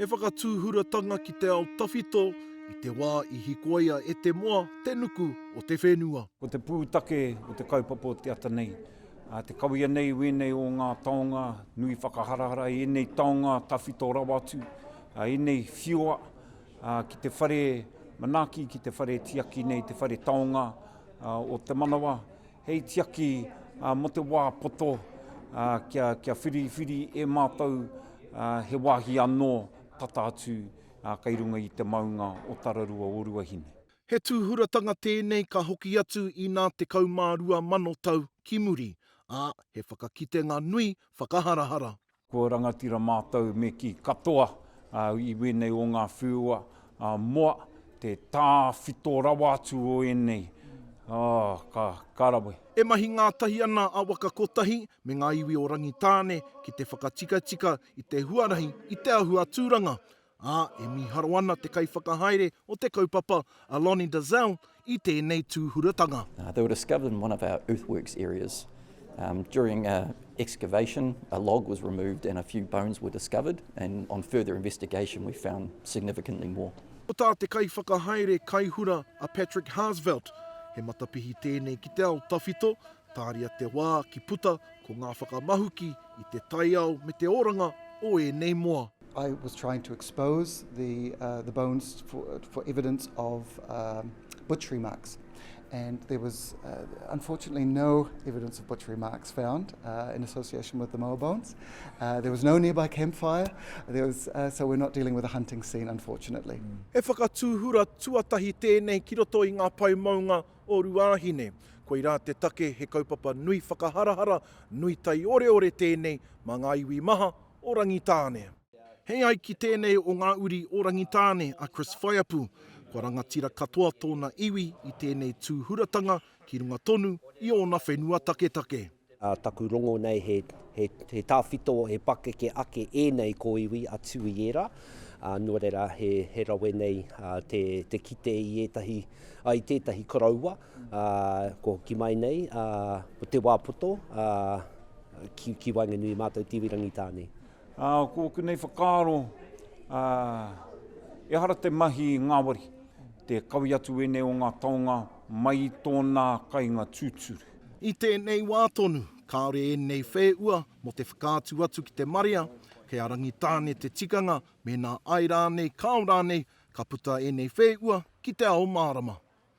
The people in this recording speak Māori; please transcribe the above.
He whakatūhuratanga ki te ao tawhito i te wā i hikoia e te moa te nuku o te whenua. Ko te pūtake o te kaupapa o te ata nei, Te kawea nei i wēnei o ngā taonga nui whakaharahara, i ēnei taonga tawhito rawa atu, ēnei whiua ki te whare manaaki, ki te whare tiaki nei, te whare taonga o te manawa, hei tiaki mō te wā poto kia whiriwhiri e mātou he wāhi anō tata atu kei runga i te maunga o Tararua o Ruahine. He tūhuratanga tēnei ka hoki atu i nā tekau mā rua mano tau ki muri, ā, he whakakitenga nui whakaharahara. Ko rangatira mātou me kī katoa i wēnei o ngā whiua moa, te tāwhito rawa atu o ēnei, oh, ka rawe. E mahi ngātahi ana a Waka Kotahi me ngā iwi o Rangitāne ki te whakatikatika i te huarahi i te ahu aturanga, ā, e mīharo ana te kaiwhakahaere o te kaupapa, a Lonnie Dazelle, i tēnei tūhuratanga. They were discovered in one of our earthworks areas. During a excavation, a log was removed and a few bones were discovered and on further investigation we found significantly more. Ko tā te kaiwhakahaere kaihura a Patrick Harzvelt, he matapihi tēnei ki te ao tawhito, tāria te wā ki puta ko ngā whakamahuki i te taiao me te oranga o ēnei moa. I was trying to expose the, uh, the bones for, for evidence of um, butchery marks. And there was uh, unfortunately no evidence of butchery marks found uh, in association with the moa bones. Uh, there was no nearby campfire, there was, uh, so we're not dealing with a hunting scene, unfortunately. Mm. He whakatūhura tuatahi tēnei ki roto i ngā pai maunga o Ruāhine. Koirā te take he kaupapa nui whakaharahara, nui tai oreore tēnei mā ngā iwi maha o Rangitāne. He ai ki tēnei o ngā uri o Rangitāne a Chris Whaiapu. Kua rangatira katoa tōna iwi i tēnei tūhuratanga ki runga tonu i ōna whenua taketake. Taku rongo nei he tāwhito, he pakeke ake ēnei kōiwi a Tuiera, nō reira he rawe nei te kite i tētahi koroua. Ko hoki mai nei, ko te wā poto ki waenganui mātou te iwi Rangitāne. Ko konei whakaaro, ehara te mahi ngāwari, te kawe atu ēnei o ngā taonga mai i tōnā kainga tūturu. I tēnei wā tonu, kāore ēnei whēua mō te whakaatu atu ki te marea, kei a Rangitāne te tikanga, mēnā ai rānei kāo rānei, ka puta ēnei whēua ki te ao mārama.